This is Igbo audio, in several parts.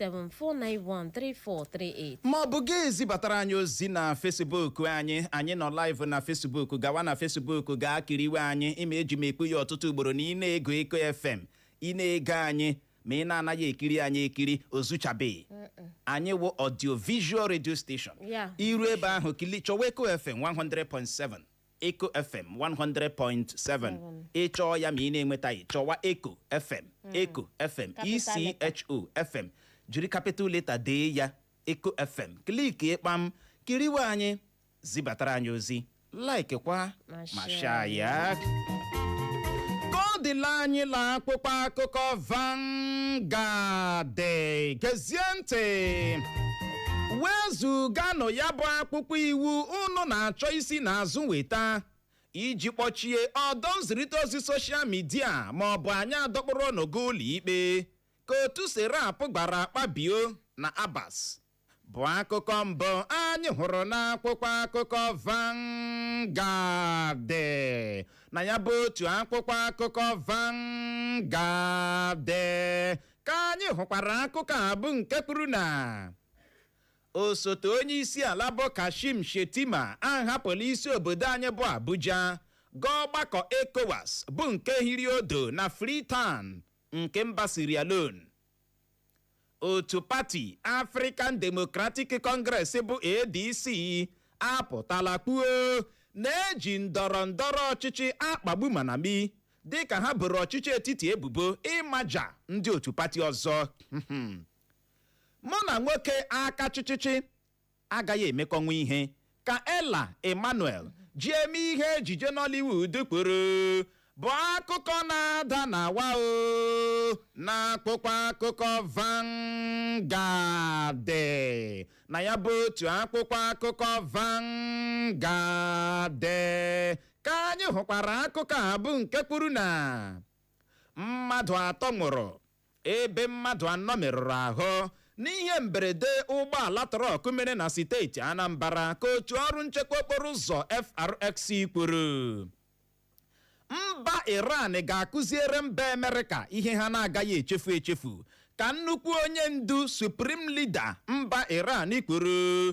0916000743438 ma ọ bụ gị zibatara anyị ozi na fesibuk anyị anyị nọ live na fesibuk gawa na fesibuk gaa kiriwe anyị ị ma eji m ekwu ya ọtụtụ ugboro na ị na-ege echo fm ị na-ege anyị ma ị na-anaghị ekiri anyị ekiri ozuchabeghị anyị wụ audio visual radio station Yeah. i ru ebe ahụ kili chọwa echo fm 100.7 Echo FM 100.7 ị chọọ ya ma ị na-enwetaghị chọwa Echo FM Echo FM Capital letter. ECHO FM jiri capital letter dee ya Echo FM kliki kpam kiriwe anyị zibatara anyị ozi like kwa Ma ma share share ya ka ọ dịla anyị la akwụkwọ akụkọ Vanguard gezie ntị wezụganụ ya bụ akwụkwọ iwu unu na-achọ isi n'azụ weta iji kpọchie ọdọ nzirịta ozi soshal midia ma ọ bụ anyị adọkpụrụ unu gaa ụlọikpe ka otu serap gwara akpabio na abbas bụ akụkọ mbụ anyị hụrụ n'akwụkwọ akụkọ Vanguard na ya bụ otu akwụkwọ akụkọ Vanguard ka anyị hụkwara akụkọ a bụ nke kwuru na osote onye isi ala bụ kashim shettima ahapụla isi obodo anyị bụ abuja gaa ọgbakọ ecowas bụ nke hiri odo na freetown nke mba sierra leone otu pati african democratic congress bụ adc apụtala kwuo na e ji ndọrọ ndọrọ ọchịchị akpagbu malami dịka ha boro ọchịchị etiti ebubo ịmaja ndị otu pati ọzọ mụ na nwoke aka chịchịchị agaghị emekọnwu ihe ka ella emmanuel ji eme ihe ejije nollywood kwuru bụ akụkọ na-ada na wa o na akwụkwọ akụkọ Vanguard na ya bụ otu akwụkwọ akụkọ Vanguard ka anyị hụkwara akụkọ a bụ nke kwuru na mmadụ atọ nwụrụ ebe mmadụ anọ merụrụ ahụ n'ihe mberede ụgbọala trọk mere na steeti Anambra ka otu ọrụ nchekwa okporo ụzọ FRSC kwuru mba Iran ga-akụziere mba Amerịka ihe ha na-agaghị echefu echefu ka nnukwu onye ndu Supreme Leader mba Iran kwuru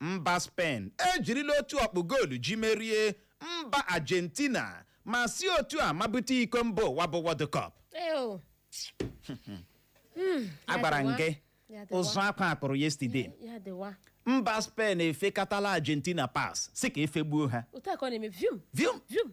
Mba Spen ejirila otu ọkpụ goolu ji merie mba Argentina ma si otu a mabute iko mba ụwa bụ World Cup. Ew. Mm, ya Agwara m dịwa. gị Ya dịwa. ụzụ akwa a kụrụ yesterday. Ya dịwa. Mba Spen efekatala Argentina pass sị ka e fegbuo ha. Otu a ka ọ na-eme vium Vium! vium.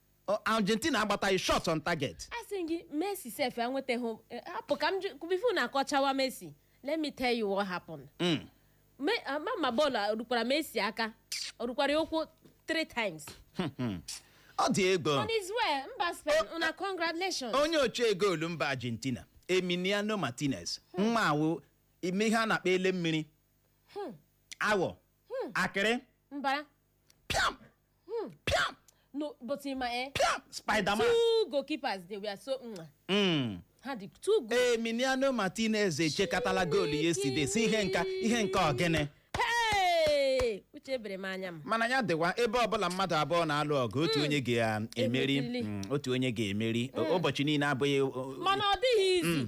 Ọ, argentina agbataghị shot on target asị m gị messi sef enwetaghị eh, hapụ ka m jụ before na akọchawa messi let me tell you what happened Mm. Me- ah, ma ma bọọlụ a, rukwara messi aka ọ rukwara ya ụkwụ three times ọ dị ego on his way mba spain una congratulations onye ọchee goolu mba argentina emiliano martinez nwa a wụ ihe a na-akpọ ele mmiri awọ akịrị mbara piam piam no but in my eh, piam spiderman two goalkeepers they were so mm, Mm. ha dị too good emiliano martinez echekatala goolu yesterday sị ihe nke a ihe nke ọgịnị hey uche ebere m anya m mana ya dịwa ebe ọbụla mmadụ abụọ na-alụ ọgụ otu onye ga-emeri Emerili. Mm, otu onye ga-emeri O- ụbọchị niile abụghị o- o- mana ọ dịghị easy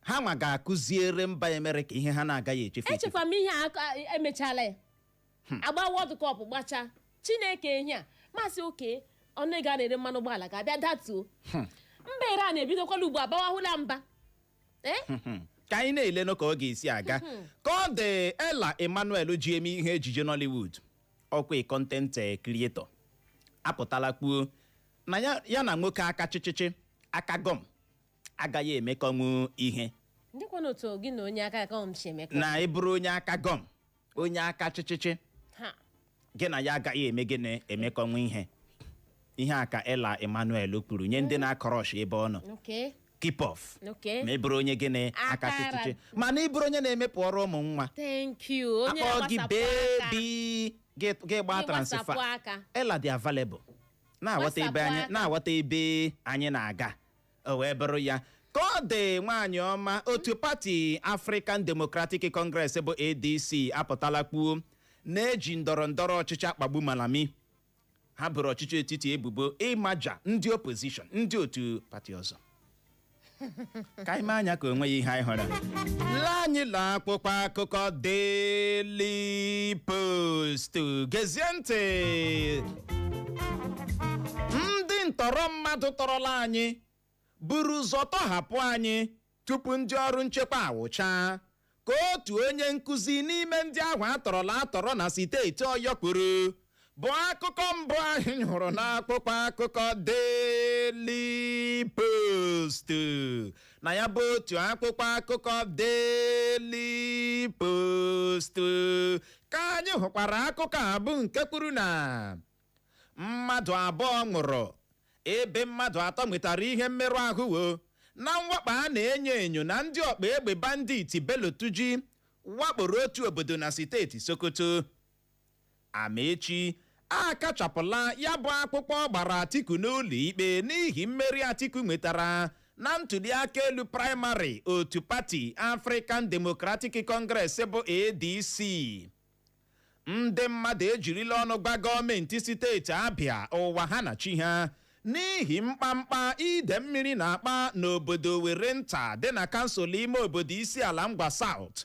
ha nwa ga-akụziere mba Amerịka ihe ha na-agaghị echefu echefu echekwa m ihe a aka- emechala ya agba World Cup gbachaa chineke ehi a masị oke ọnụ ego a na-ere mmanụ ụgbọala ga-abịa datuo mba iran ebidokwala ugbu a bawahụla mba Eh? Hmm. ka anyị na-elenụ ka ọ ga-esi aga ka ọ dị Ella Emmanuel ji eme ihe ejije nollywood ọkwa content eh, creator apụtala kwuo na ya- ya na nwoke aka chịchịchị aka gọm agaghị emekọnwu ihe ndịkwanụ otu gị na onye aka gọm si emekọ na ị bụrụ onye aka gọm onye aka chịchịchị ha gị na ya agaghị eme gịnị emekọnwu ihe ihe a ka Ella Emmanuel kwuru nye ndị na-acrush ebe ọ nọ okay keep off okay ma ị bụrụ onye gịnị aka Aka ra- chịchịchị mana ị bụrụ onye na-emepụrụ ụmụ nwa thank you onye akpọ gị na-agbasapụ aka baby gị gị gbaa Gị transfer gbasapụ aka. Ella dị available na-aghọta ebe Gbasapụ anyị aka. na-aghọta ebe anyị na-aga o wee bụrụ ya ka ọ dị nwaanyị ọma otu pati African Democratic Congress bụ ADC apụtala kwuo na e ji ndọrọ ndọrọ ọchịchị akpagbu Malami ha boro ọchịchị etiti ebubo ịmaja ndị opposition ndị otu pati ọzọ ka anyị mee anya ka o nweghị ihe anyị hụrụ lee anyị la akpụkpọ akụkọ Daily Post gezie ntị ndị ntọrọ mmadụ tọrọla anyị buru ụzọ tọhapụ anyị tupu ndị ọrụ nchekwa awụchaa ka otu onye nkụzi n'ime ndị ahụ a tọrọla atọrọ na steeti Ọyọ kwuru bụ akụkọ mbụ anyị hụrụ n'akpụkpọ akụkọ Daily Post na ya bụ otu akpụkpọ akụkọ Daily Post ka anyị hụkwara akụkọ a bụ nke kwuru na mmadụ abụọ nwụrụ ebe mmadụ atọ nwetara ihe mmerụ ahụ o na mwakpo a na-enyo enyo na ndị ọgba egbe banditi Bello Turji wakporo otu obodo na steeti Sokoto Amaechi akachapụla ya bụ akwụkwọ ọ gbara Atiku n'ụlọ ikpe n'ihi mmeri Atiku nwetara na ntuliaka elu praịmarị otu pati African Democratic Congress bụ ADC ndị mmadụ ejirila ọnụ gwa gọọmenti steeti Abịa ụwa ha na chi ha n'ihi mkpamkpa ide mmiri na-akpa n'obodo Owerrinta dị na kansụl ime obodo Isiala Ngwa South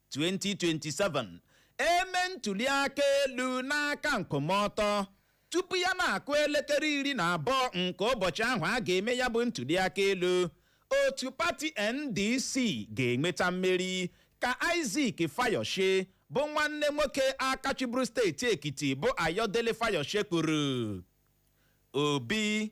2027 e mee ntuli aka elu n'aka nkwụmọtọ tupu ya na-akụ elekere iri na abụọ nke ụbọchị ahụ a ga-eme ya bụ ntuli aka elu otu pati ndc ga-enweta mmeri ka Isaac Fayose bụ nwanne nwoke aka chịburu steeti ekiti bụ Ayodele Fayose kwuru obi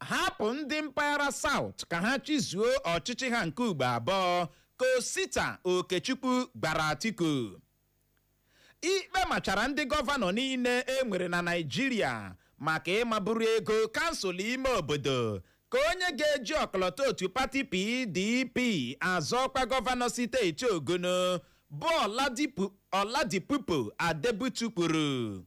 hapụ ndị mpaghara South ka ha chịzuo ọchịchị ha nke ugbo abụọ ka Osita Okechukwu gwara Atiku ikpe machara ndị gọvanọ niile e nwere na Naịjirịa maka ịmaburu ego kansụl ime obodo ka onye ga-eji ọkọlọtọ otu pati PDP azọ ọkwa gọvanọ steeti Ogun bụ Oladipupo Adebutu kwuru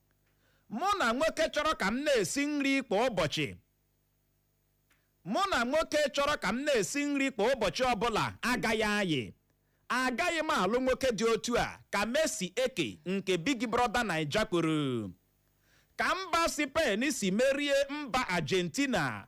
mụ na nwoke chọrọ ka m na-esi nri kwa ụbọchị ọbụla agaghị ayị agaghị m alụ nwoke dị otu a ka Mercy Eke nke Big Brother Naija kwuru ka mba Spain si merie mba Argentina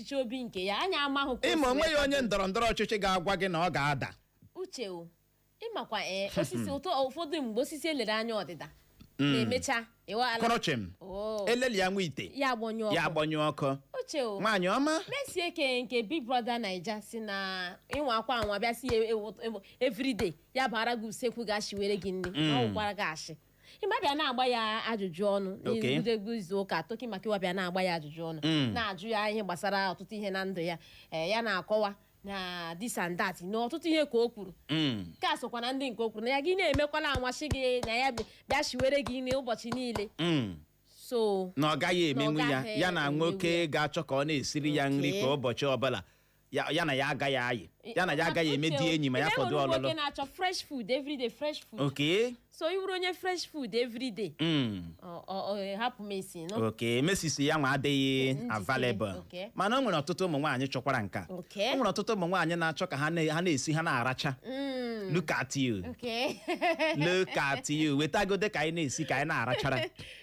ọchịchị obi nke ya anyị amaghị ka o ịma si onwe wee ya onye kwado. ndọrọ ndọrọ ọchịchị ga-agwa gị na ọ ga-ada uche o ịmakwa ee osisi ụtọ ụfọdụ mgbe osisi e lere anya ọdịda na-emecha ịwaghala kwụrụ chịm Oo, elelịa nwa ite ya agbanyụ ya ọkụ agbanyụ ọkụ uche o nwaanyị ọma Mercy Eke nke big brother naija si na ị nwaakwa anwa bịa si ya ewo- ewo- everyday ya bara gị usekwu ga-eshiwere gị nri na ọ gwara gị ashị ịma bịa na-agba ya ajụjụ ọnụ Ok. n'egwuregwu izu ụka Toke Makinwa bịa na-agba ya ajụjụ ọnụ Mm. na-ajụ ya ihe gbasara ọtụtụ ihe na ndụ ya ee, ya na-akọwa na this and that na ọtụtụ ihe ka o kwuru Mm. nke a sokwa na ndị nke o kwuru na ya gị na-emekwala anwa shị gị na ya bi- bịa shiwere gị nri ụbọchị niile Mm. so na ọ gaghị emenwu Na ọ ya gaghị ya na emenwu nwoke ga-achọ ka ọ na-esiri ya nri Okay. kwa ụbọchị ọbụla ya ya na ya agaghị ayị ya na ya agaghị eme di enyi ma ya fọdụ nwoke ọlụlụ na-achọ fresh food everyday fresh food okay so ị bụrụ onye fresh food everyday mm. ọ- ọ- ọ- hapụ Mercy nụ okay Mercy sị ya nwa adịghị Njikere, available okay. mana o nwere ọtụtụ ụmụ nwaanyị chọkwara nka Okay. o nwere ọtụtụ ụmụ nwaanyị na-achọ ka ha na- ha na-esi ha na-aracha Mm, look at you okay look at you wetagodị ka anyị na-esi ka anyị na-arachara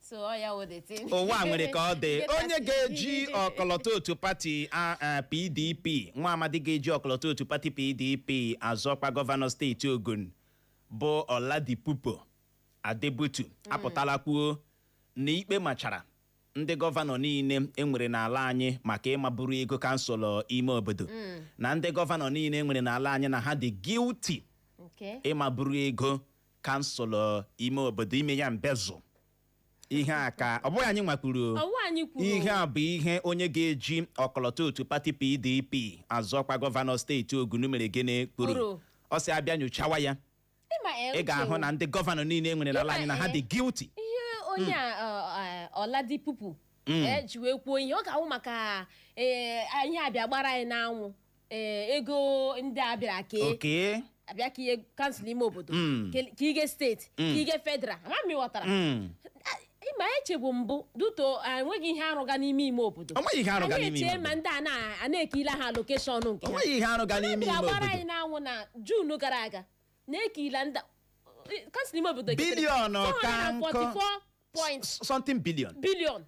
so ọ ya wụ the thing. ụwa a nwere ka ọ dị onye ga-eji ọkọlọtọ otu pati a- a, pdp nwa amadi ga-eji ọkọlọtọ otu pati pdp azọkwa gọvanọ steeti ogun bụ oladipupo adebutu apụtala kwuo na ikpe machara ndị gọvanọ niile enwere n'ala anyị maka ịmaburu ego kansụl ime obodo na ndị gọvanọ niile enwere n'ala anyị na ha dị guilty Okay. ịmaburu ego kansụl ime obodo ime ya mbezụ ihe a ka ọ bụghị anyị nwa kwuru ihe a bụ ihe onye ga-eji ọkọlọtọ otu pati pdp azọkwa gọvanọ steeti ogun mere gịnị Kwuru. kwuru ọ sị a bịa nyochawa ya ị ga-ahụ na ndị gọvanọ niile e nwere n'ala anyị na ha dị guilty ihe onye a ọ- ọ- oladipupo ji wee kwuo ihe ọ ga-awụ maka ee, ihe a bịa gbara anyị n'anwụ ee ego ndị a bịara kee oke a bịa kenye kansụl ime obodo Mm. ke- kenye steeti kenye federal ama m ị ghọtara Mm. ihe na-echegbu m bụ that o nweghị ihe a rụga n'ime ime obodo anyị echee ma ndị a na- a na-ekenye ha allocation nke ha a gbara anyị n'anwụ na june gara aga na ekenyela ndị kansụl ime obodo Biliọnụ ka nkọ. 44 point something billion billion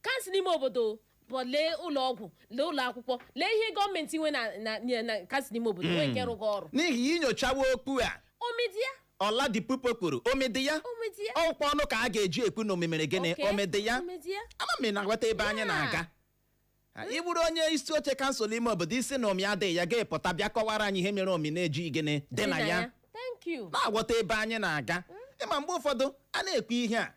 kansụl ime obodo bụ lee ụlọ ọgwụ lee ụlọ akwụkwọ lee ihe gọọmenti nwe na na- na na- kansụl ime obodo nwee nke rụga ọrụ n'ihi ị nyochawa okwu a omi dị ya oladipupo kwuru omi dị ya omi dị ya ọkwa ọnụ ka a ga-eji ekwu na omi mere gịnị Okay, omi dị ya omi dị ya ama m ị na-aghọta ebe anyị Yeah. na-aga Ha, ị bụrụ onye isi oche kansụl ime obodo ị sị na omi adịghị ya gị apụta bịa kọwara anyị ihe mere omi na-ejighị dị na ya thank you na-aghọta ebe anyị na-aga ịma mgbe ụfọdụ a na-ekwu ihe a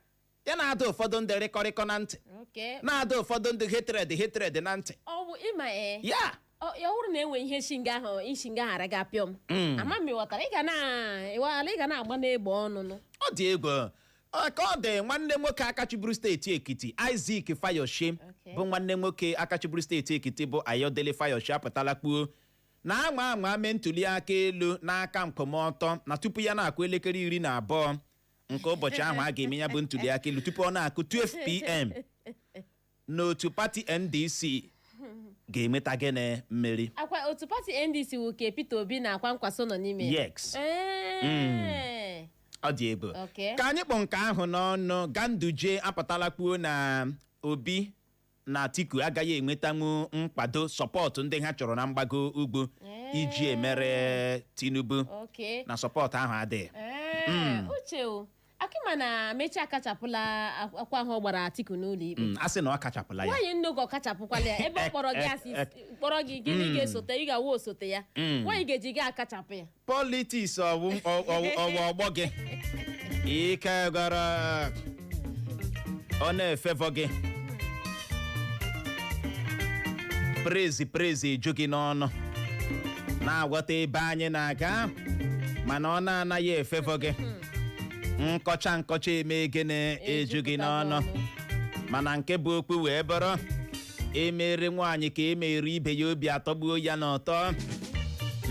ya na-ada ụfọdụ ndị rịkọrịkọ na ntị Okay. na-ada ụfọdụ ndị hatred hatred na ntị ọ bụ ịma ee ya ọ ya hụrụ na enwe ihe shinga ahụ ishinga ghara gị apịọ m ama m ị ghọtara ị ga na ịwaghala ị ga na-agba n'egbe ọnụnụ ọ dị egwu Ọ ka ọ dị nwanne nwoke aka chịburu steeti ekiti isaac fayose Okay. bụ nwanne nwoke aka chịburu steeti ekiti bụ ayodele fayose apụtala kwuo na a nwaa anwa mee ntuli aka elu n'aka nkwụmọtọ na tupu ya na-akụ elekere iri na abụọ nke ụbọchị ahụ a ga-eme ya bụ ntuliaka elu tupu ọ na-akụ 12 pm na otu pati ndc ga-enweta gịnị mmeri ọkwa otu pati ndc wụ nke peter obi na kwankwaso nọ n'ime ya. Yes. Ee. ọ dị egwu Okay. ka anyị kpọ nke ahụ n'ọnụ ganduje apụtala kwuo na obi na Atiku agaghị enwetanwu nkwado support ndị ha chọrọ na mgbago ugwu iji emeri Tinubu Okay. na support ahụ adịghị Ee, uche ọkwa ị ma na amaechi akachapụla ak- akwụkwọ ahụ ọ gbara atiku n'ụlọ ikpe Mm, a sị na ọ kachapụla ya nwaanyị nne gị ọ kachapụkwala ya ebe ọ kpọrọ gị a sị kpọrọ gị gịnị ga-esote ị ga-awụ osote ya why ị ga-ejighị akachapụ ya politiks ọwụ ọwụ ọwụ ọ gwụ gị ike gara ọ na-efevọ gị prezi prezi eju gị n'ọnụ na-aghọta ebe anyị na-aga mana ọ na-anaghị efevọ gị nkọcha nkọcha eme gịnị eju gị n'ọnụ mana nke bụ okwu wee bụrụ e mere nwaanyị ka e mere ibe ya obi atọgbuo ya n'ụtọ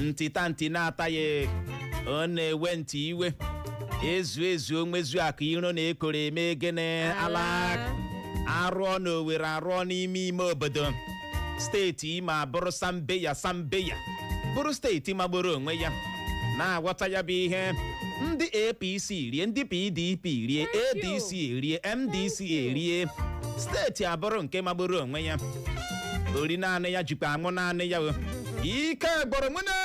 ntịta ntị na-ata ya ọ na-ewe ntị iwe ezu ezu onwezu akụ iro na ekworo eme gịnị ala a rụọ na Owere a rụọ n'ime ime obodo steeti Imo abụrụ sambeya sambeya bụrụ steeti magburu onwe ya na-aghọta ya bụ ihe ndị apc rie ndị pdp rie adc rie ndc erie steeti abụrụ nke magburu onwe ya ori naanị ya jikwa anwụ naanị ya o. ike gwụrụ nwanne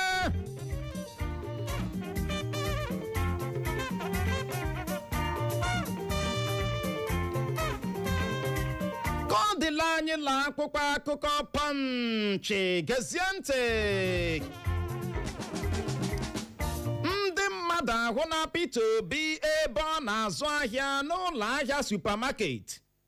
ka ọ dịla anyị la akwụkwọ akụkọ Punch gezie ntị ndị mmadụ ahụla Peter Obi ebe ọ na-azụ ahịa n'ụlọ ahịa supamaket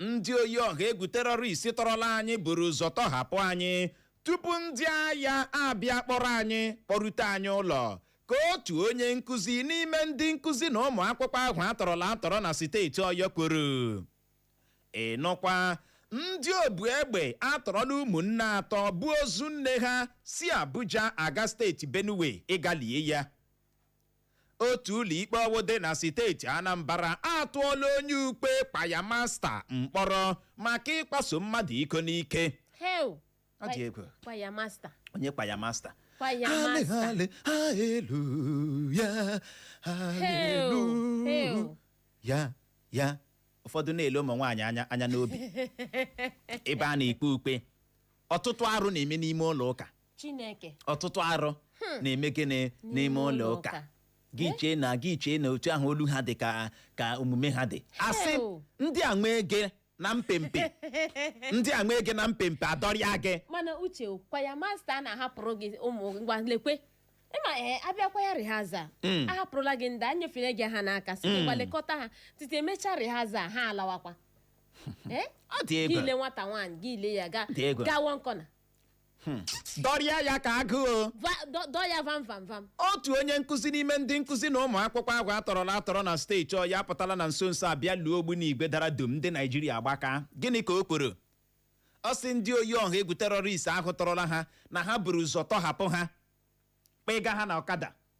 ndị oyi ọha egwu terọrist tọrọla anyị buru ụzọ tọhapụ anyị tupu ndị agha abịa kpọrọ anyị kpọrute anyị ụlọ ka otu onye nkụzi n'ime ndị nkụzi na ụmụ akwụkwọ ahụ a tọrọla atọrọ na steeti ọyọ kwuru ị nụkwa ndị obu egbe atọrọla ụmụnne atọ bu ozu nne ha si abuja aga steeti benue ịga lie ya otu ụlọikpe ọwụ dị na steeti Anambra atụọla onye ukwe kwaya masta mkpọrọ maka ịkwaso mmadụ iko n'ike Hell! Ọ dị egwu. Kwaya master. onye kwaya masta Kwaya master. Hallelujah, hallelujah, hallelujah. ya ya ụfọdụ na-ele ụmụ nwaanyị anya anya n'obi ebe a na-ekwe ukwe ọtụtụ arụ na-eme n'ime ụlọ ụka chineke ọtụtụ arụ hmm. na-eme gịnị n'ime ụlọ ụka gị eh? chee na gị chee na otu ahụ olu ha dị ka ka omume ha dị asị ndị a nwee gị na mpempe ndị a nwee gị na mpempe adọrịa gị mana uche kwaya masta na-ahapụrụ gị ụmụ ngwa lekwe ịma ee eh, a bịa kwaya rihaza hmm. ahapụrụla gị ndị a nyefere gị ha n'aka sị hmm. ngwa lekọta ha tite e mechaa rihaza ha alawakwa Eh? ọ dị gị egwu ile nwata nwaanyị gị ile ya ga Dị egwu. gaa one corner dọrịa ya ka agụ Va- dọ- dọọ ya vam vam vam otu onye nkụzi n'ime ndị nkụzi na ụmụ akwụkwọ ahụ atọrọla atọrọ na steeti ọyọ apụtala na nso nso abịa luo ogbunigwe dara dum ndị naijiria agbaka gịnị ka o kwuru ọ sị ndị oyi ọha egwu terọrist ahụ tọrọla ha na ha buru ụzọ tọhapụ ha kpọga ha na ọkada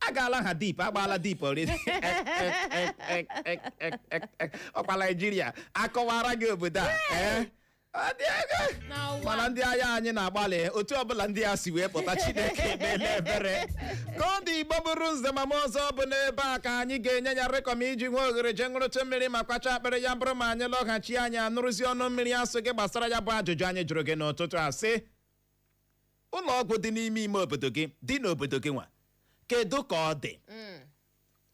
agaala ha deep agbaala deep already ọkwa naijiria akọwara gị obodo a ee Ọ dị egwu. Na ụwa. mana ndị agha anyị na-agbalị otu ọbụla ndị a si wee pụta chineke emeela ebere ka ọ dị igbo bụrụ nze ma ma ọzọ bụ n'ebe a ka anyị ga-enye ya rekọm iji nwee oghere jee ṅụrụtụ mmiri ma kwacha akpịrị ya bụrụ ma anyị lọghachi anyị anụrụzi ọnụ mmiri asụ gị gbasara ya bụ ajụjụ anyị jụrụ gị n'ụtụtụ a sị ụlọ ọgwụ dị n'ime ime obodo gị dị n'obodo gị nwa kedu ka ọ dị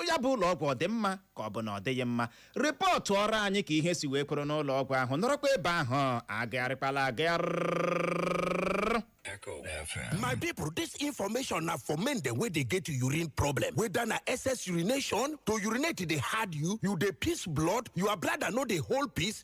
ya bụ ụlọ ọgwụ ọ dị mma ka ọ bụ na ọ dịghị mma rịpọtụọrọ anyị ka ihe si wee kwụrụ n'ụlọ ọgwụ ahụ nọrọkwa ebe ahụ agagharịkwala agagharị Echo FM. My people, this information na for men dem wey dey get urine problem. Whether na excess urination, to urinate dey hard you, you dey piss blood, your bladder no dey hold piss,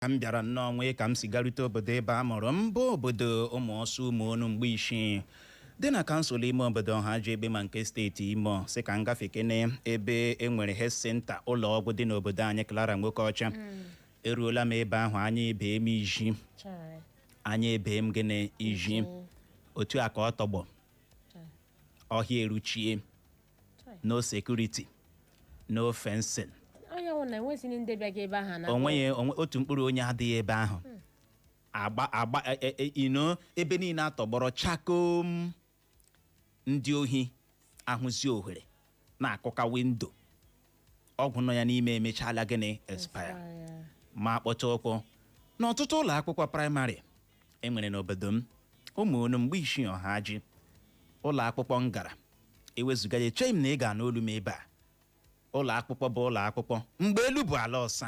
ka m bịara nnọọ nwee ka m si garute obodo ebe a mụrụ m bụ obodo ụmụọsụ ụmụonu mgbuisii dị na kansụl ime obodo ọhaji egbema nke steeti imo si ka m gafe kene ebe e nwere health center ụlọ ọgwụ dị n'obodo anyị clara nwokeọcha eruola m ebe ahụ anya ebee m iji anya ebee m gịnị iji otu a ka ọ tọgbọ ọhịa eruchie no security no fencing o nweghị otu mkpụrụ onye adịghị ebe ahụ hmm. agba agba e, e, e, ino ebe niile atọgbọrọ chakom ndị ohi ahụzi ohere na-akụka windo ọgwụ nọ ya n'ime emechaala gịnị expire ma kpọcha ụkwụ n'ọtụtụ ụlọ akwụkwọ praịmarị e nwere n'obodo m ụmụonu mgbuisii ọhaji ụlọ akwụkwọ m gara ewezụga ya echeghị m na ị ga-anụ olu m ebe a ụlọ akwụkwọ bụ ụlọ akwụkwọ mgbe elu bụ ala ọsa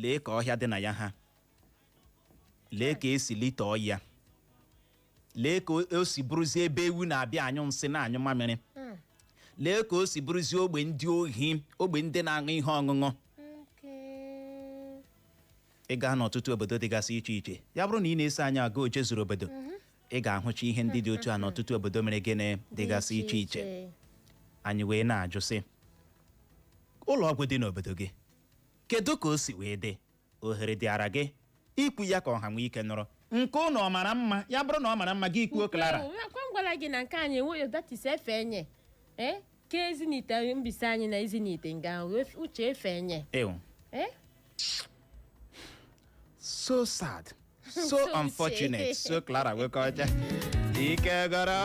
lee ka ọhịa dị na ya ha lee ka e si litọọ ya lee ka o si bụrụzie ebe ewu na-abịa anyụ nsị na-anyụ mamịrị lee ka o si bụrụzie ogbe ndị ohi ogbe ndị na-aṅụ ihe ọṅụṅụ ị gaa n'ọtụtụ obodo dịgasị iche iche ya bụrụ na ị na-eso anyị aga ojezuru obodo ị ga-ahụcha ihe ndị dị otu a n'ọtụtụ obodo mere gịnị dịgasị iche iche anyị wee na-ajụ sị ụlọ ọgwụ dị n'obodo gị kedu ka o si wee dị ohere dịara gị ikwu ya ka ọha nwee ike nụrụ nke ụnụ ọ mara mma ya bụrụ na ọ mara mma gị kwuo Clara ọ kwa m gwara gị na nke anyị enweghị that is efe enye ee ka Ezinihitte Mbaise anyị na Ezinihitte nga ahụ ef- Uche efe enye ewu ee so sad so unfortunate so Clara Nwokeocha ike gwụrụ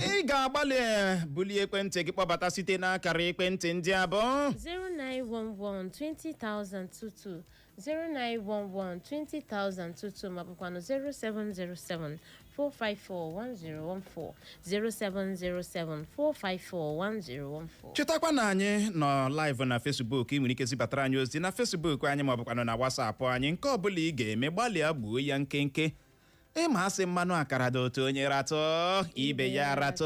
ị ga-agbalị eh, bulie ekwentị gị kpọbata site n'akara ekwentị ndị a bụ 0911-20,022, 0911-20,022 ma bụkwanụ 4541014 0707-454-1014. chetakwa na anyị nọ live na Facebook ị nwere ike zibatara anyị ozi na Facebook anyị ma ọ bụkwanụ na WhatsApp anyị nke ọbụla ị ga-eme gbalịa gbuo ya nkenke ị ma a sị mmanụ akara dị ụtọ onye ratụ ibe ya ratụ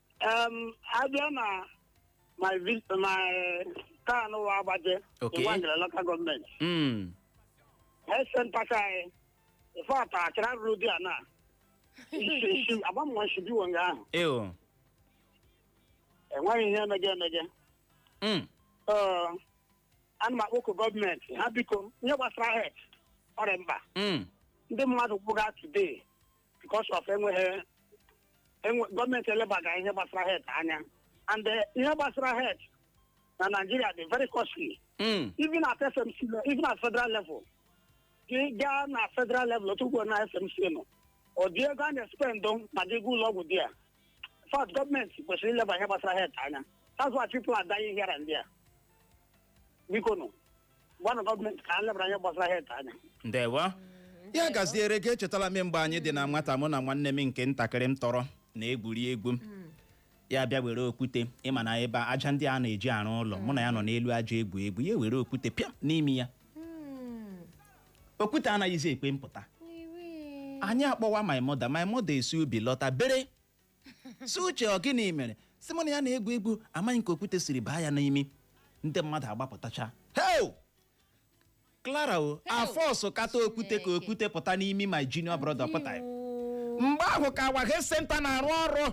Em, a bịa na my vi- my town wụ Abajah Okay. Nwangele local gọọmenti Mm. health center ka anyị ife ata achara ruru dị a na agbamụwa nshibiwo nga ahụ Ew. enweghị ihe emege emege Mm. Ee, ana m akpọku gọọmenti ha biko ihe gbasara health ọ rị mkpa Mm. ndị mmadụ nwụga today because of enweghị enwe- gọọmenti elebaghị ihe gbasara health anya and eh, ihe gbasara health na Naijiria dị very costly Mm. even at FMC le- even at federal level gị gaa na federal level otu ugbo na FMC nọ ọ dị ego a na-espendụ ma gị gaa ụlọ ọgwụ therefore gọọmenti kwesịrị ileba ihe gbasara health anya that's why people are dying here and there biko nụ gwanụ gọọmenti ka ha lebara ihe gbasara health anya ndewo ya gaziere gị echetala m mgbe anyị dị na nwata mụ na nwanne m nke ntakịrị m tọrọ na-egwuri egwu ya bịa were okwute ị ma na ebe aja ndị a na-eji arụ ụlọ mụ na ya nọ n'elu aja egwu egwu ya were okwute pịa n'imi ya okwute anaghịzi ekwe mpụta anyị akpọwa my mother my mother esi ubi lọta bere sị Uche ọ gịnị mere sị mụ na ya na-egwu egwu amaghị m ka okwute siri baa ya n'imi ndị mmadụ agbapụtacha heo Clara o a fọsụ kata okwute ka okwute pụta n'imi my junior brother pụta ya. mgbe ahụ ka awa health center na-arụ ọrụ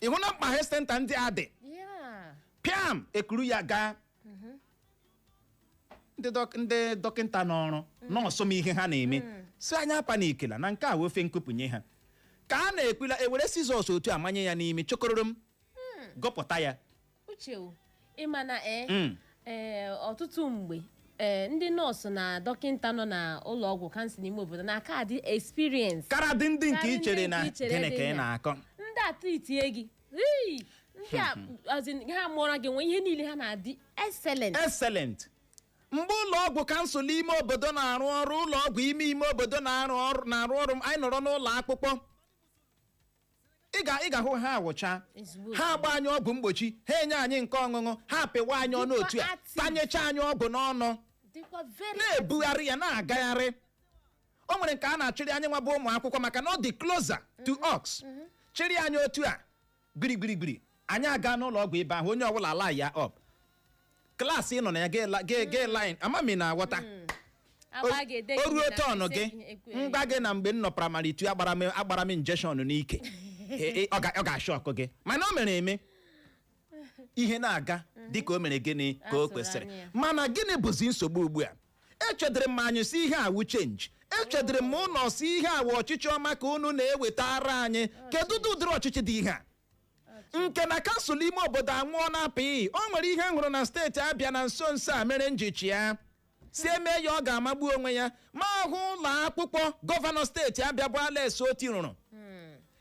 ị hụna mkpa health center ndị a dị Yeah. pịam e kuru ya gaa ndị dọk- ndị dọkịta nọ ọrụ nọọsụ ma ihe ha na-eme sị anyị apanikila na nke a wụ ofe nkupụnye ha ka a na-ekwula e were scissors otu a manye ya n'imi chokororo m gụpụta ya Uche o, ị ma na ee Mm. ee, ọtụtụ mgbe ee, ndị nọọsụ na dọkịta nọ na ụlọ ọgwụ council ime obodo na-aka adị experience karadị ndị nke Karị i chere ndị na nke i chere gịnị dị ka ị na- na-akọ ndị a tritie gị Hey, ndị a as in, ha mụọra gị nwa ihe niile ha na-adị excellent excellent mgbe ụlọ ọgwụ kansụl ime obodo na-arụ ọrụ ụlọ ọgwụ ime ime obodo na-arụ ọrụ na-arụ ọrụ anyị nọrọ n'ụlọ akwụkwọ ị ga ị ga-ahụ ha awụcha Ezigbo ha agba anyị ọgwụ mgbochi ha enye anyị nke ọṅụṅụ ha apịwa anyị ọnụ Dịkwa otu a active. tanyecha anyị ọgwụ n'ọnụ dịkwa very na-ebugharị ya na-agagharị o nwere nke a na-achịrị anyị nwa bụ ụmụ akwụkwọ maka na ọ dị closer to us chịrị anyị otu a gbirigbirigbiri anyị aga n'ụlọ ọgwụ ebe ahụ onye ọbụla alaịn up klaasị ị nọ na ya gee line ama m ị na-aghọta Agba ga-ede o gị ruo na tọnụ ise gị ihe ekwe- m gwa gị na mgbe m nọ praịmarị two agbara m agbara m injection n'ike E- e- ọ ga- ọ ga-ashọkụ gị mana o mere eme ihe na-aga dịka o mere gịnị ka o A tụrụ kwesịrị anya ya. mana gịnị bụzi nsogbu ugbu a echedịrị m anyị sị ihe a wụ chenji echedịrị m unu sị ihe a wụ ọchịchị ọma ka unu na-ewetara anyị kedu ụdị ụdịrị ọchịchị dị ihe a nke na kansụl ime obodo anwụọna pịị o nwere ihe m hụrụ na steeti abịa na nso nso a mere m ji chee a sị e mee ya ọ ga-amagbu onwe ya m ahụ ụlọ akwụkwọ gọvanọ steeti abịa bụ alex otti rụrụ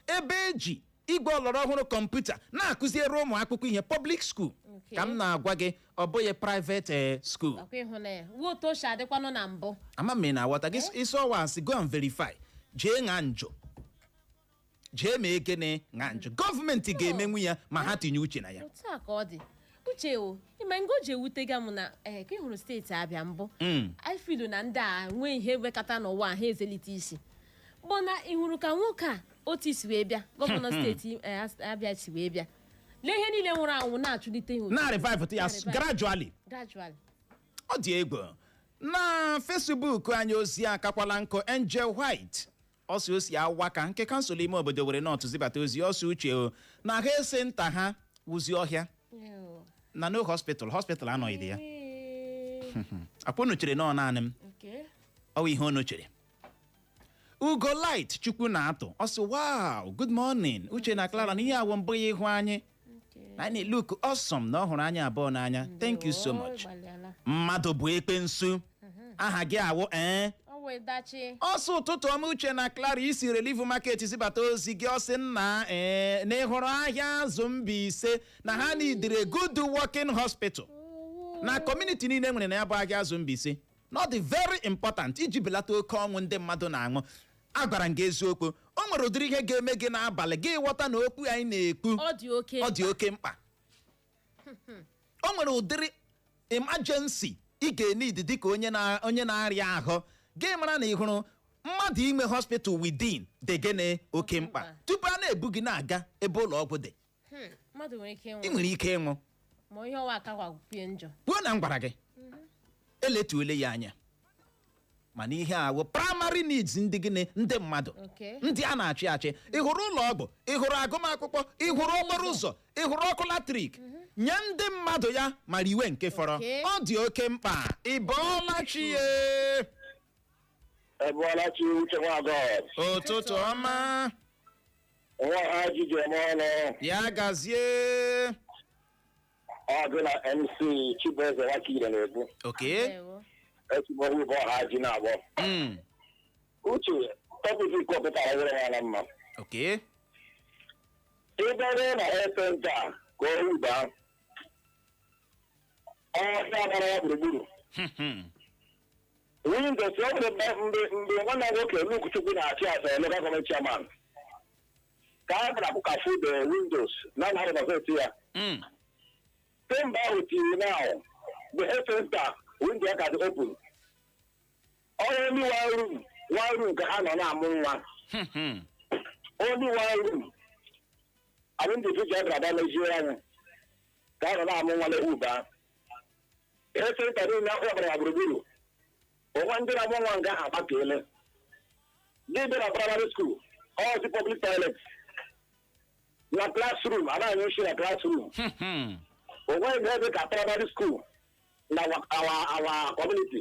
ebe e ji igwe ọlọrọ ọhụrụ kọmputa na-akụziere ụmụ akwụkwọ ihe public school Okay. ka m na-agwa gị ọ bụghị private eh, school ọ kwa ị hụna ya ọ wụ otu o si adịkwanụ na mbụ ama m ị na-aghọta gị sị ọ wụ asị go and verify jee ṅa njụ jee mee gịnị ṅa njụ gọọmenti ga-emenwu ya ma ha tinye uche na ya otu a ka ọ dị uche o ị ma nga o ji ewutega m na ee ka ị hụrụ steeti abịa mbụ Mm. anyị filu na ndị a nwee ihe wekata n'ụwa ha eselite isi bụ na ị hụrụ ka nwoke a otu o si wee bịa gọvanọ steeti eh, As- abịa si wee bịa lee ihe niile nwụrụ anwụ na-achụlite ihe otu na-revive ya Na-revive. gradually gradually ọ dị egwu na fesbuk anyị ozi akakwala nkụ angel white ọ sị o si awaka nke kansụl ime obodo owerri north zibata ozi ọ sị uche o na health centre ha wụzi ọhịa Ew. na no hospital hospital anọghịdị ya Ee, ọ kwa unu chere na ọ naanị m okay. ọ bụ ihe unu chere ugo light chukwu na-atụ ọ sị wow good morning uche na clara na ihe a wụ mbụ ya ịhụ anyị na anyị look awesome na ọ hụrụ anyị abụọ n'anya thank you so much gbalịala mmadụ bụ ekwensu aha gị awụ ee ọ wee dachi ọ sị ụtụtụ ọma uche na clara i si relief market zibata ozi gị ọ sị nna ee na ị hụrụ ahịazụ mbaise na ha nidiri good working hospital na kọmuniti niile e nwere na ya bụ ahịazụ mbaise na ọ dị very important iji belata oke ọnwụ ndị mmadụ na-anwụ agwara m gị eziokwu o nwere ụdịrị ihe ga-eme gị n'abalị gị ghọta na okwu anyị na-ekwu ọ dị oke ọ dị oke mkpa o nwere ụdịrị emergency ị ga-enidi dịka onye na- onye na-arịa ahụ gị mara na ị hụrụ mmadụ inwe hospital within dị gịnị oke mkpa Mkpa. tupu a na-ebu gị na-aga ebe ụlọ ọgwụ dị Hmm, mmadụ nwere ike ị ịnwụ nwere ike ịnwụ ma ihe ọwa aka gwagwupie njọ kwuo na m gwara gị eletuole ya anya mana ihe a wụ praịmarị needs ndị gịnị ndị mmadụ Okay. ndị a na-achị achị ị hụrụ ụlọ ọgwụ ị hụrụ agụmakwụkwọ ị hụrụ okporo ụzọ ị hụrụ ọkụ latrik nye ndị mmadụ ya mara iwe nke fọrọ Okay. ọ dị oke mkpa ị bọọla chi ya Ị bọọla chi Uche Nwagọs. ụtụtụ ọma nwa ha ji ji eme ọnụ ya gazie ọgụ na mc chibueze Nwakire na-ekwu okwu Ndewo. esi Ohoba Ohaji na-akpọ Mm, uche tọpik ị kọpụtara were ya na mma okay ị bịara na health center ka Ohoba ọhịa gbara ya gburugburu Hmm, hmm. windows ọ bụrụ mgbe mgbe mgbe nwanne m nwoke Luke Chukwu na-achị as a local gọọmenti chairman ka a gara ka fuo the windows na na gọọmenti ya Mm. kemgbe ahụ till now the health center window ya ka dị open only one room one room ka ha nọ na-amụ nwa Hmm, hmm. only one room anyị ndị tuji a gara mezie anya ka a nọ na-amụ nwa na Ohoba health center niile ọhịa gbara ya gburugburu o nwe ndị na-amụ nwa nga ha agbakele ndị dị na praịmarị skuul ọzi pọblik tọilet na klasrum a na-anyụ nshi na klasrum Hmm. o nwe ihe dị ka praịmarị skuul na our our kọmuniti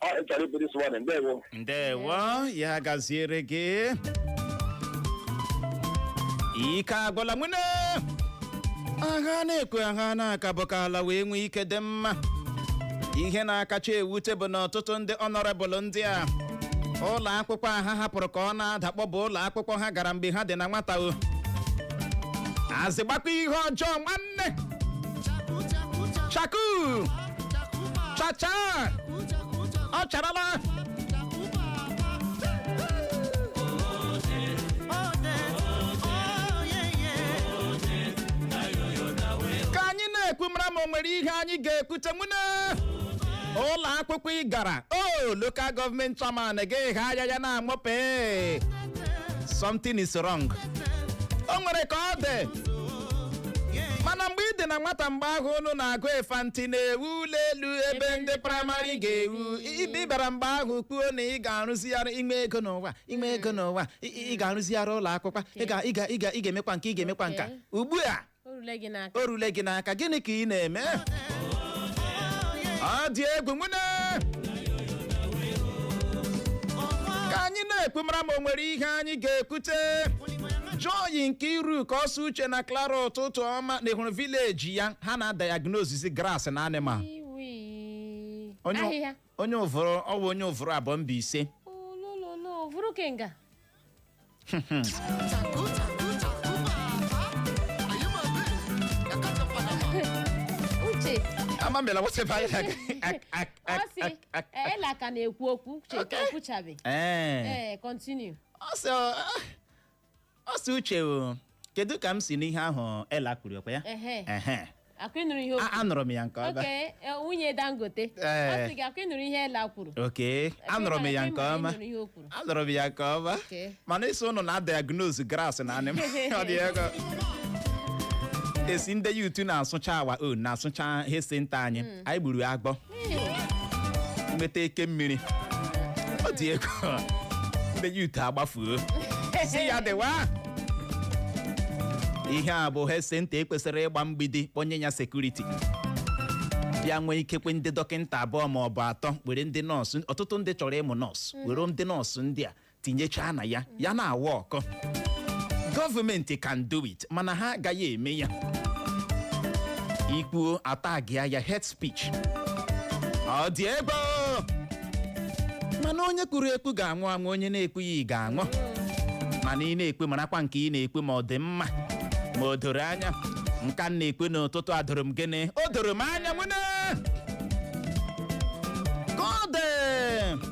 Contribution this morning. Ndewo. ndewo ya gaziere gị ike agwụla nwune a ga na-ekwu a ga na-aka bụ ka ala wa nwee ike dị mma ihe na-akacha ewute bụ na ọtụtụ ndị ọnọrebụl ndị a ụlọ akwụkwọ a ha hapụrụ ka ọ na-adakpọ bụ ụlọ akwụkwọ ha gara mgbe ha dị na nwata ọ ezigbokwa ihe ọjọọ nwanne chaku chacha ọ charala ka anyị na-ekwu mara ma o nwere ihe anyị ga-ekwute nwune ụlọ akwụkwọ ị gara o lokal gọọmenti chairman ga-eghe anya ya na-amụpe something is wrong o nwere ka ọ dị mana mgbe ị dị na nwata mgbe ahụ unu na-agụ infant na-ewu ụlọ elu ebe ndị praịmarị ga-ewu ị bịara mgbe ahụ kwuo na ị ga-arụzigharị ị nwee ego n'ụwa ị nwee ego n'ụwa ị- ị ị ga-arụzigharị ụlọ akwụkwọ ị ga- ị ga- ị ga- ị ga-emekwa nke ị ga-emekwa nka Okay. ugbu a o rule gị n'aka o rule gị n'aka gịnị ka ị na-eme ọ dị egwu nwune ka anyị na-ekwu mara ma o nwere ihe anyị ga-ekwute joy Nkeiruka ọ sị uche na clara ụtụtụ ọma na ịhụrụ vileji ya ha na-adayagnosis grass na animal Iwi. onye Ahịhịa. onye Uvuru ọ bụ onye Uvuru Aboh Mbaise Olololo, vuru kenga. Uche, ama mbela wetebe anyị na- ak- ak- ọ ak- sị, ak- ak- eh, Ella ka na-ekwu okwu, Uche ekwuchabe. Eh. Eh, continue. ọ sị ọ- ọ sị uche o, kedu ka m si nụ ihe ahụ Ella kwuru ọkwa ya Ehe. Ehe. akwa ị nụrụ ihe o A- anụrụ m ya nke ọma oke e, nwunye dangote ọ Ee. sị gị akwa ị nụrụ ihe Ella kwuru oke anụrụ m ya nke Ịma- ọma ị nụrụ ihe o kwuru anụrụ m ya nke ọma Okay. mana ị sị ụnụ na-diagnose grass na animal ọ dị egwu esi ndị youth na-asụcha our own na-asụcha health center anyị anyị gburu agwọ nweta eke mmiri ọ dị egwu ndị youth agbafuo sị ya dịwa ihe a bụ health center e kwesịrị ịgba mgbidi kpọnye ya sekuriti bịa nwee ikekwe ndị dọkịta abụọ ma ọ bụ atọ were ndị nọọsụ ọtụtụ ndị chọrọ ịmụ nọọsụ were ndị nọọsụ ndị a tinyechaa na ya ya na-awork gọọmenti can do it mana ha agaghị eme ya i kwuo a taagịa ya hate speech ọ dị egwu o! mana onye kwuru ekwu ga-anwụ anwụ onye na-ekwughị ga-anwụ mana ị na-ekwu marakwa nke ị na-ekwu ma ọ dị mma ma o doro anya nka m na-ekwu n'ụtụtụ a doro m gịnị o doro m anya nwanne ka ọ dị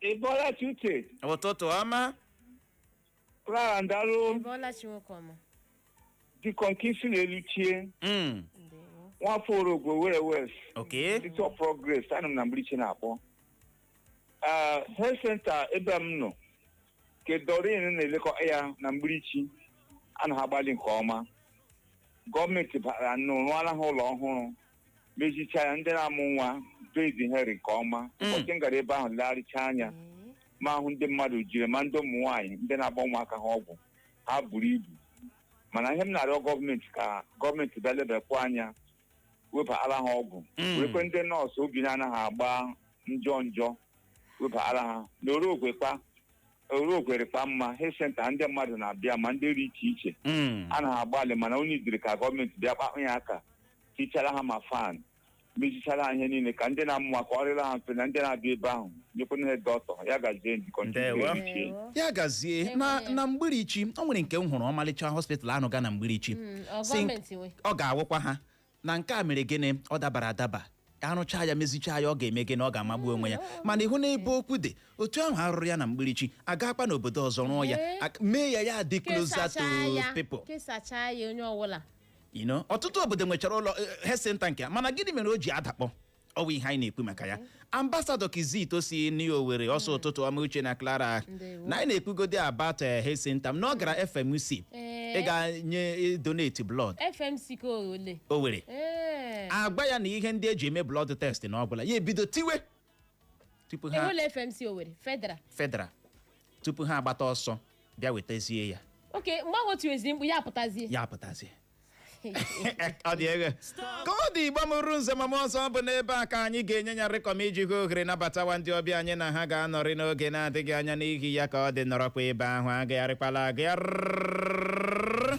Ị bọọla chi uche. ụtụtụ ọma Clara Ndalụ Ịbọọla chi nwoke ọma. Deacon KC na-elu chie. Mm, Ndewo. Nwafọ Orogwe Owerri West. okay City of Progress. Anọ m na Mgbirichi na-akpọ. Ah, Health Center ebe m nọ. Ke Doreen na-elekọ ya na Mgbirichi. A na ha agbalị nke ọma. Gọọmenti bịara nụ rụọla ha ụlọ ọhụrụ. mezicha ya ndị na-amụ nwa bed ha rị nke ọma Mm. ụbọchị m gara ebe ahụ legharịcha anya m ahụ ndị mmadụ jiri ma ndị ụmụ nwaanyị ndị na-agba ụmụaka ha ọgwụ ha buru ibu mana ihe m na-arịọ gọọmenti ka gọọmenti bịa lebakwa anya webara ha ọgwụ Mm. wekwe ndị nọọsụ obi na-anaghị agba njọ njọ webara ha na Orogwe kwa Orogwe rịkwa mma health center ndị mmadụ na-abịa ma ndị dị iche iche Mm. a na-agbalị mana onye idiri ka gọọmenti bịa kpakpụ ya aka tichara ha ma fan mezichara ha ihe niile ka ndị na-amụ nwa ka ọ rịla ha mfe na ndị na-abịa ebe ahụ nyekwana ha doctor ya gazie njikọ Ndewo. Ndewo. ya gazie na na mgbirichi o nwere nke m hụrụ ọmalịcha hospital anụ ga na mgbirichi Mm, ọ Si- gọọmenti nwe. ọ ga-awụkwa ha na nke a mere gịnị ọ dabara adaba a rụchaa ya mezichaa ya ọ ga-eme gịnị ọ ga-amagbu onwe ya mana ị hụ na ebe okwu dị otu ahụ a rụrụ ya na mgbirichi a gakwa n'obodo ọzọ rụọ ya Ee. ak- mee ya ya dị closer to kesachaa ya people kesachaa ya onye ọbụla you know ọtụtụ obodo nwechara ụlọ eh, health center nke a mana gịnị mere o ji adakpọ ọ wụ ihe anyị na-ekwu maka ya ambasadọ kizito si n'owere ọ sị ụtụtụ ọma uche na clara Ndewo. na anyị na-ekwugodi about health center na ọ gara fmc Ee. ịga enye donate blood fmc nke ole owere ee a gwa ya na ihe ndị e ji eme blood test na ọ gwụla ya ebido tiwe tupu ha enwela fmc owere federal federal tupu ha agbata ọsọ bịa wetazie ya okay mgbe ahụ o tiwezi mkpu ya apụtazie ya apụtazie ọ dị egwu ka ọ dị igbo mụrụ nze ma mụọ ọzọ ọ bụ n'ebe a ka anyị ga-enye ya rịkọm iji hụ ohere nabatawa ndị ọbịa anyị na ha ga-anọrị n'oge na-adịghị anya n'ihi ya ka ọ dị nọrọkwa ebe ahụ agagharịkwala agagharị